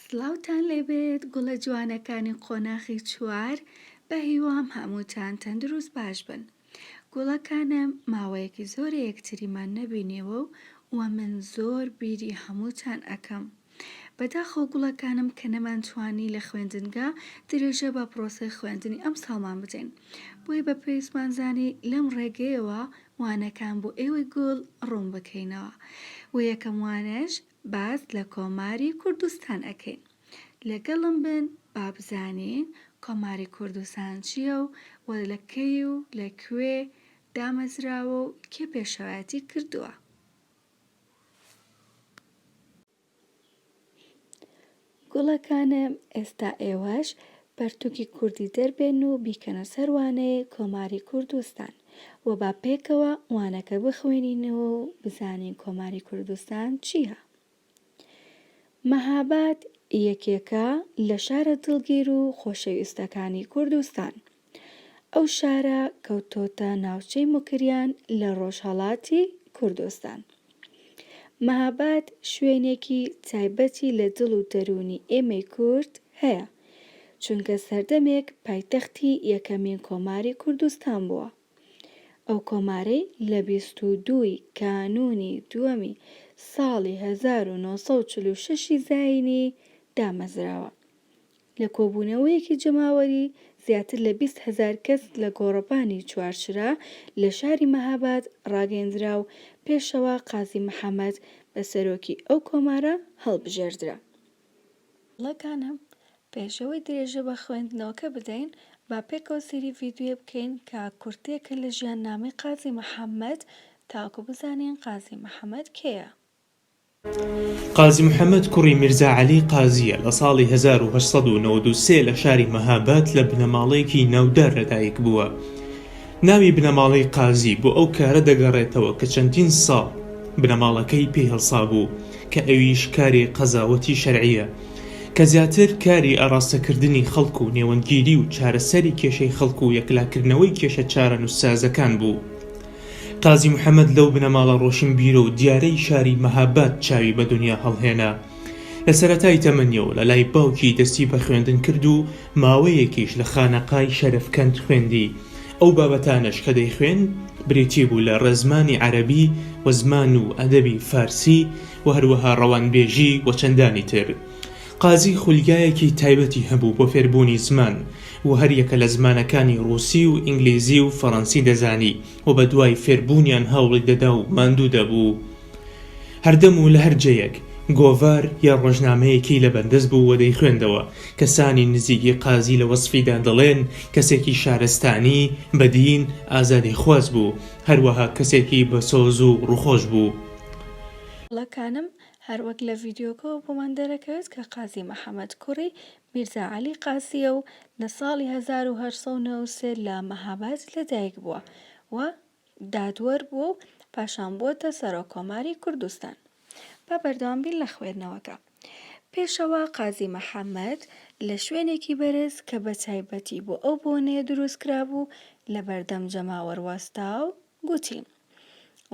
سڵاوتان لێبێت گوڵە جوانەکانی قۆناخی چوار بە هیوام هەمووتان تەندروست باش بن گوڵەکانم ماوەیەکی زۆرە یەکتریمان نەبینیەوە و وە من زۆر بیری هەمووتان ئەکەم بەداخەوە گوڵەکانم کە نەمانتوانی لە خوێندنگا درێژە بە پرۆسەی خوێندنی ئەمساڵمان بدەین بۆیە بە پێویستمان زانی لەم ڕێگەیەوە وانەکان بۆ ئێوەی گوڵ ڕوون بکەینەوە و یەکەم وانەش باس لە کۆماری کوردستان ئەکەین لەگەڵم بن با بزانین کۆماری کوردستان چییە و و لە کەی و لە کوێ دامەزراوە و کێ پێشەوایەتی کردووە گوڵەکانم ئێستا ئێوەش پەرتوکی کوردی دەربێن و بیکەنە سەر وانەی کۆماری کوردستان و با پێکەوە وانەکە بخوێنینەوە و بزانین کۆماری کوردستان چیە مەهاباد یەکێکە لە شارە دڵگیر و خۆشەویستەکانی کوردستان. ئەو شارە کەوتۆتە ناوچەی موکریان لە ڕۆژهەڵاتی کوردستان. مەهاباد شوێنێکی تایبەتی لە دڵ و دەروونی ئێمەی کورد هەیە، چونکە سەردەمێک پایتەختی یەکەمین کۆماری کوردستان بووە. ئەو کۆمارەی لە بیست و دوو ی کانوونی دووەمی ساڵی هەزار و نۆ سەد و چل و شەش ی زایینی دامەزراوە. لە کۆبوونەوەیەکی جەماوەری زیاتر لە بیست هەزار کەس لە گۆڕەپانی چوارچرا لە شاری مەهاباد ڕاگەیەندرا و پێشەوا قازی محەمەد بە سەرۆکی ئەو کۆمارە هەڵبژێردرا. گوڵەکانم پێشەوەی درێژە بە خوێندنەوەکە بدەین، با پێکەوە سەیری ڤیدیۆیە بکەین کە کورتەیەکە لە ژیاننامەی قازی محەمەد تاوەکو بزانین قازی محەمەد کێیە؟ قازی محەمەد کوڕی میرزا عەلی قازییە، لە ساڵی هەزار و هەشت سەد و نەوەد و سێ لە شاری مەهاباد لە بنەماڵەیەکی ناودار لەدایک بووە. ناوی بنەماڵەی قازی بۆ ئەو کارە دەگەڕێتەوە کە چەندین ساڵ بنەماڵەکەی پێی هەڵسابوو کە ئەویش کاری قەزاوەتی شەرعییە کە زیاتر کاری ئاڕاستەکردنی خەڵک و نێوەندگیری و چارەسەری کێشەی خەڵک و یەکلاکردنەوەی کێشە چارەنووسسازەکان بوو. قازی محەمەد لەو بنەماڵە ڕۆشنبیرە و دیارەی شاری مەهاباد چاوی بە دنیا هەڵهێنا. لە سەرەتای تەمەنیەوە لە لای باوکی دەستی بە خوێندن کرد و ماوەیەکیش لە خانەقای شەرەفکەند خوێندی، ئەو بابەتانەش کە دەیخوێند بریتی بوو لە ڕێزمانی عەرەبی و زمان و ئەدەبی فارسی و هەروەها ڕەوانبێژی و چەندانی تر. قازی خولگایەکی تایبەتی هەبوو بۆ فێربوونی زمان و هەر یەکە لە زمانەکانی ڕووسی و ئینگلیزی و فەڕەنسی دەزانی و بە دوای فێربوونیان هەوڵی دەدا و ماندوو دەبوو هەردەم و لە هەر جێیەک گۆڤار یا ڕۆژنامەیەکی لە بەردەست بوو و دەیخوێندەوە کەسانی نزیکی قازی لە وەسفیدا دەڵێن کەسێکی شارستانی، بەدین، ئازادیخواز بوو هەروەها کەسێکی بەسۆز و ڕووخۆش بوو. قسەکانم هەروەک لە ڤیدیۆکەوە بۆمان دەرەکەوێت کە قازی محەمەد کوڕی میرزا عەلی قازییە و لە ساڵی هەزار و هەشت سەد و نەوەد و سێ لە مەهاباد لەدایک بووە و دادوەر بووە و پاشان بووەتە سەرۆک کۆماری کوردستان. با بەردەوام بین لە خوێندنەوەکە. پێشەوا قازی محەمەد لە شوێنێکی بەرز کە بە تایبەتی بۆ ئەو بۆنەیە دروست کرابوو لە بەردەم جەماوەر وەستا و گوتی،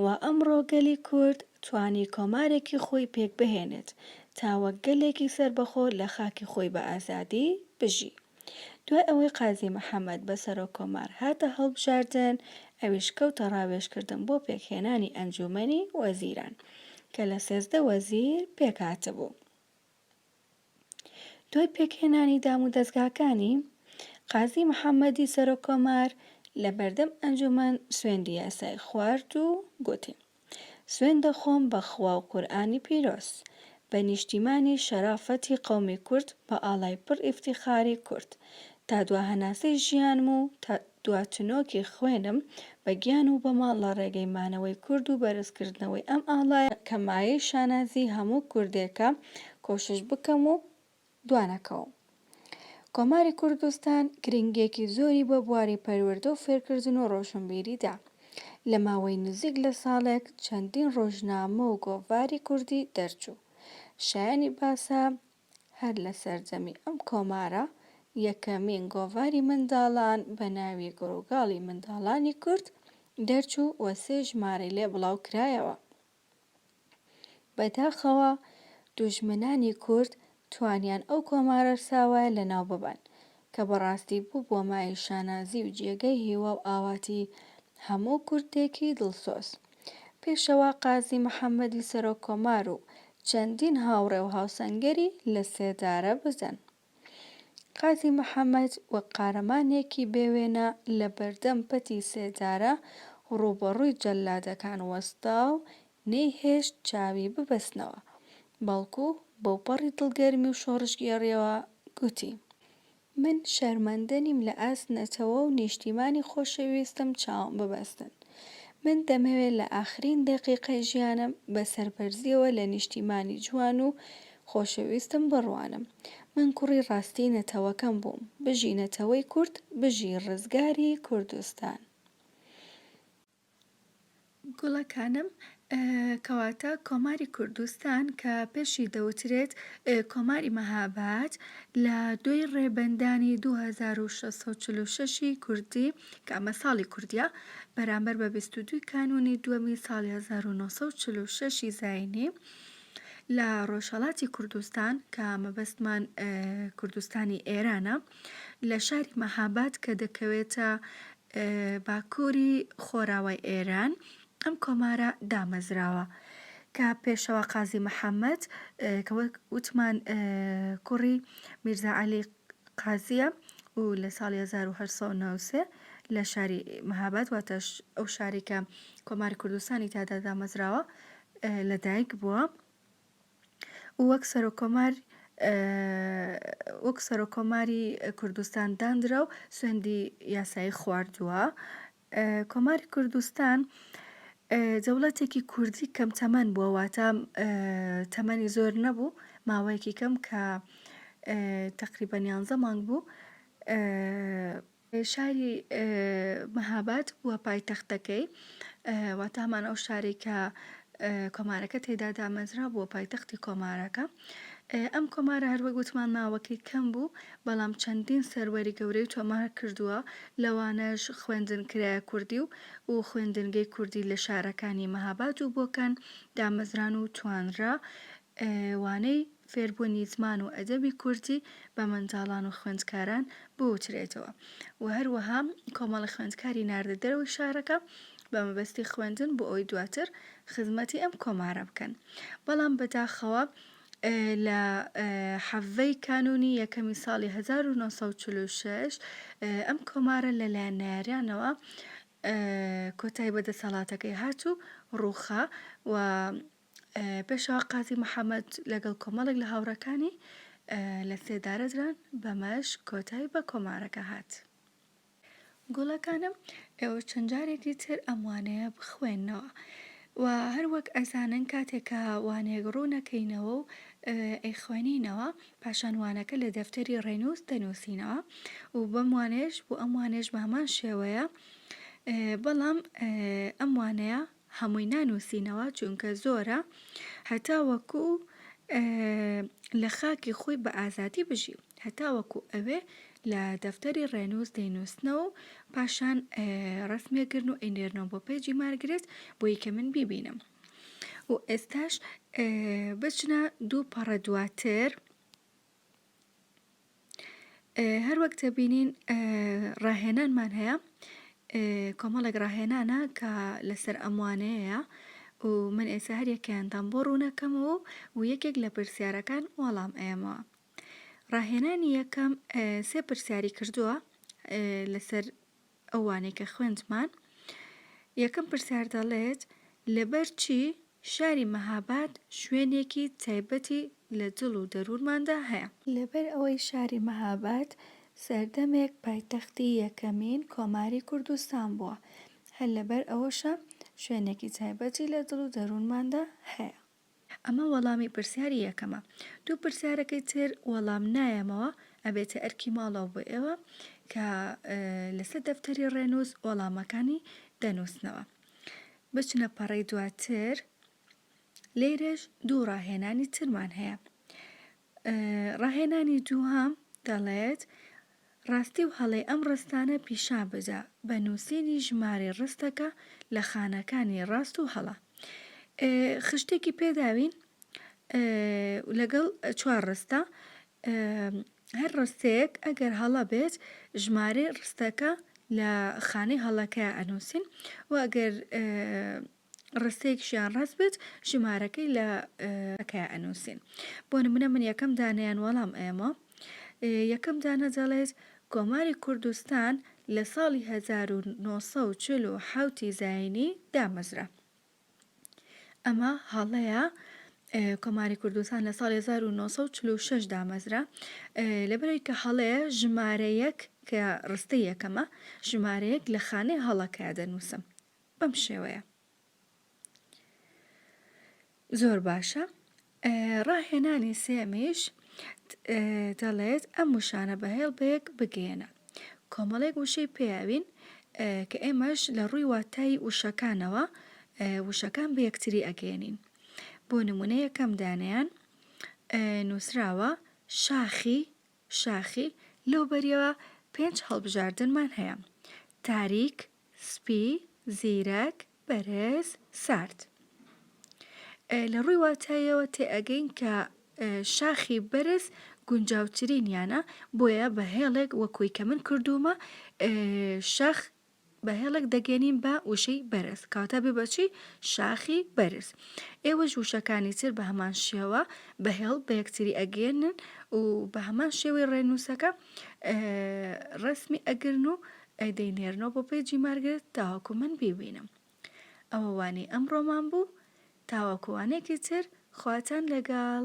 و ئەمڕۆ گەلی کورد توانی کۆمارێکی خۆی پێک بهێنێت تا وەک گەلێکی سەربەخۆ لە خاکی خۆی بە ئازادی بژی. دوای ئەوەی قازی محەمەد بە سەرۆک کۆمار هاتە هەڵبژاردن، ئەویش کەوتە ڕاوێژکردن بۆ پێکهێنانی ئەنجوومەنی وەزیران کە لە سێزدە وەزیر پێکهاتبوو. دوای پێکهێنانی دامودەزگاکانی، قازی محەممەدی سەرۆک کۆمار لە بەردەم ئەنجوومەن سوێندی یاسایی خوارد و گوتی، سوێند دەخۆم بە خوا و قورئانی پیرۆز، بە نیشتیمانی شەرافەتی قەومی کورد، بە ئاڵای پڕ ئیفتیخاری کورد، تا دوا هەناسەی ژیانم و تا دواچنۆکی خوێنم بە گیان و بە ماڵ لە ڕێگەی مانەوەی کورد و بەرزکردنەوەی ئەم ئاڵایە کە مایەی شانازی هەموو کوردێکە کۆشش بکەم و دوانەکەوم. کۆماری کوردستان گرنگیەکی زۆری بە بواری پەروەردە و فێرکردن و ڕۆشنبیری دا. لە ماوەی نزیک لە ساڵێک چەندین ڕۆژنامە و گۆڤاری کوردی دەرچوو. شایەنی باسە هەر لە سەرجەمی ئەم کۆمارە یەکەمین گۆڤاری منداڵان بە ناوی گڕوگاڵی منداڵانی کورد دەرچوو و سێ ژمارەی لێ بڵاو کرایەوە. بەداخەوە دوژمنانی کورد توانیان ئەو کۆمارەرساوایە لەناو ببەن، کە بەڕاستی بووبووە مایەی شانازی و جێگەی هیوا و ئاواتی هەموو کوردێکی دڵسۆز. پێشەوا قازی محەممەدی سەرۆک کۆمار و چەندین هاوڕێ و هاوسەنگەری لە سێدارە بزن. قازی محەممەد وەک قارەمانێکی بێ وێنە لە بەردەم پەتی سێدارە ڕووبەڕووی جەللادەکان وەستا و نەیهێشت چاوی ببەستنەوە، بەڵکو بەوپەڕی دڵگەرمی و شۆڕشگێڕییەوە گوتی، من شەرمەندە نیم لە ئاست نەتەوە و نیشتیمانی خۆشەویستم چاوم ببەستن. من دەمەوێت لە ئاخرین دەقیقەی ژیانم بە سەربەرزییەوە لە نیشتیمانی جوان و خۆشەویستم بڕوانم. من کوڕی ڕاستی نەتەوەکەم بووم. بژی نەتەوەی کورد، بژی ڕزگاری کوردستان. گوڵەکانم، کەواتە کۆماری کوردستان کە پێشی دەوترێت کۆماری مەهاباد لە دوێی ڕێبەندانی دوو هەزار و شەش سەد و چل و شەشی کوردی کە ئەمە ساڵی کوردیە بەرامبەر بە بیست و دووی کانوونی دووەمی ساڵی هەزار و نۆ سەد و چل و شەشی زاینی لە ڕۆژهەڵاتی کوردستان کە مەبەستمان کوردستانی ئێرانە لە شاری مەهاباد کە دەکەوێتە باکووری خۆراوای ئێران ئەم کۆمارە دامەزراوە کە پێشەوا قازی محەممەد کە وەک وتمان کوڕی میرزا عەلی قازییە و لە ساڵی هەزار و هەشت سەد و نەوەد و سێ لە شاری مەهاباد واتە ئەو شارەی کە کۆماری کوردستانی تیادا دامەزراوە لەدایک بووە و وەک سەرۆک کۆمار وەک سەرۆک کۆماری کوردستان داندرا و سوێندی یاسایی خواردووە کۆماری کوردستان دەوڵەتێکی کوردی کەم تەمەن بووە واتە تەمەنی زۆر نەبوو ماوەیەکی کەم کە تەقریبەن یانزە مانگ بوو شاری مهاباد بووە پایتەختەکەی، واتە هەمان ئەو شارەی کە کۆمارەکە تێیدا دامەزرا بووە پایتەختی کۆمارەکە. ئەم کۆمارە هەر وەک وتمان ماوەکەی کەم بوو، بەڵام چەندین سەروەری گەورەی تۆمار کردووە، لەوانەش خوێندنکرایە کوردی و و خوێندنگەی کوردی لە شارەکانی مهاباد و بۆکان دامەزران و توانرا وانەی فێربوونی زمان و ئەدەبی کوردی بە منداڵان و خوێندکاران بوترێتەوە و هەروەها کۆمەڵە خوێندکاری ناردە دەرەوەی شارەکە بە مەبەستی خوێندن بۆ ئەوەی دواتر خزمەتی ئەم کۆمارە بکەن بەڵام بەداخەوە لە حەڤەی کانوونی یەکەمی ساڵی هەزار و نۆ سەد و چل و شەش ئەم کۆمارە لەلایەن نەیاریانەوە کۆتای بە دەسەڵاتەکەی هات و ڕووخا و پێشەوا قازی محەمەد لەگەڵ کۆمەڵێک لە هاوڕێکانی لە سێدارە دران بەمەش کۆتای بە کۆمارەکە هات. گوڵەکانم ئێوە چەند جارێکی تر ئەم وانەیە بخوێنەوە و هەر وەک ئەزانن کاتێک کە وانەیەک ڕوونەکەینەوە و ئەیخوێنینەوە پاشان وانەکە لە دەفتەری ڕێنووس دەنووسینەوە و بەم وانەیەش بۆ ئەم وانەیەش بە هەمان شێوەیە بەڵام ئەم وانەیە هەمووی نانوسینەوە چونکە زۆرە هەتاوەکو لە خاکی خۆی بە ئازادی بژی هەتاوەکو ئەوێ لە دەفتەری ڕێنووس دەینووسنەوە و پاشان ڕسمێگرن و ئەینێرنەوە بۆ پێجی مارگرێت بۆی کە من بیبینم و ئێستاش بچنە دوو پەڕە دواتر هەر وەک دەبینین ڕاهێنانمان هەیە کۆمەڵێک ڕاهێنانە کە لەسەر ئەم وانەیەیە و من ئێستا هەر یەکەیانتان بۆ ڕوون ئەکەمەوە و یەکێک لە پرسیارەکان وەڵام ئەیەمەوە ڕاهێنانی یەکەم سێ پرسیاری کردووە لەسەر ئەوانەی کە خوێندمان یەکەم پرسیار دەڵێت لەبەر چی شاری مەهاباد شوێنێکی تایبەتی لە دڵ و دەروونماندا هەیە؟ لەبەر ئەوەی شاری مەهاباد سەردەمێک پایتەختی یەکەمین کۆماری کوردستان بووە، هەر لەبەر ئەوەشە شوێنێکی تایبەتی لە دڵ و دەروونماندا هەیە. ئەمە وەڵامی پرسیاری یەکەمە دوو پرسیارەکەی تر وەڵام نایەمەوە ئەبێتە ئەرکی ماڵەوە بۆ ئێوە کە لەسەر دەفتەری ڕێنووس وەڵامەکانی دەنووسنەوە بچنە پەڕەی دواتر لێرەش دوو ڕاهێنانی ترمان هەیە ڕاهێنانی دووهەم دەڵێت، ڕاستی و هەڵەی ئەم ڕستانە پیشان بدە بە نووسینی ژمارەی ڕستەکە لە خانەکانی ڕاست و هەڵە. خشتێکی پێداوین لەگەڵ چوار ڕستە، هەر ڕستەیەک ئەگەر هەڵە بێت ژمارەی ڕستەکە لە خانەی هەڵەکەیا ئەنووسین و ئەگەر ڕستەیەکشیان ڕەت بێت ژمارەکەی لە کە ئەنووسین بۆ نمونە من یەکەم دانیان وەڵام ئێمە یەکەم دانە دەڵێت کۆماری کوردستان لە ساڵی 1940 زینی دامەزرا ئەمە هەڵەیە کۆماری کوردستان لە ساڵی 1946 دامەزرا لەبەرەوەی کە هەڵەیە ژمارەیەک کە ڕستە یەکەمە ژمارەیەک لە خانەی هەڵەکە دەنووسم بەم شێوەیە زۆر باشە ڕاهێنانی سێمیش دەڵێت ئەم وشانە بەهێڵ بەیەک بگەێنە کۆمەڵێک وشەی پێیاوین کە ئێمەش لە ڕووی واتایی وشەکانەوە وشەکان بە یەکتری ئەگەێنین بۆ نمونە یەکەم دانیان نووسراوە شاخی شاخی، لەو بەریەوە پێنج هەڵبژاردنمان هەیە، تاریک، سپی، زیرەک، بەرێز، سارد. لە ڕووی واتاییەوە تێئەگەین کە شاخی بەرز گونجاوترینیانە، بۆیە بە هێڵێک وەکووی کە من کردوومە شاخ بە هێڵێک دەگەنین بە وشەی بەرز کەواتە بێ بە چی شاخی بەرز ئێوەش وشەکانی تر بە هەمان شێوە بە هێڵ بە یەکتری ئەگەێنن و بە هەمان شێوەی ڕێنووسەکە ڕسمی ئەگرن و ئەدەی نێرنەوە بۆ پێجی مارگرێت تاوەکو من بیبینم ئەوە وانەی ئەمڕۆمان بوو تاوەکوانێکی تر خواتان لەگەڵ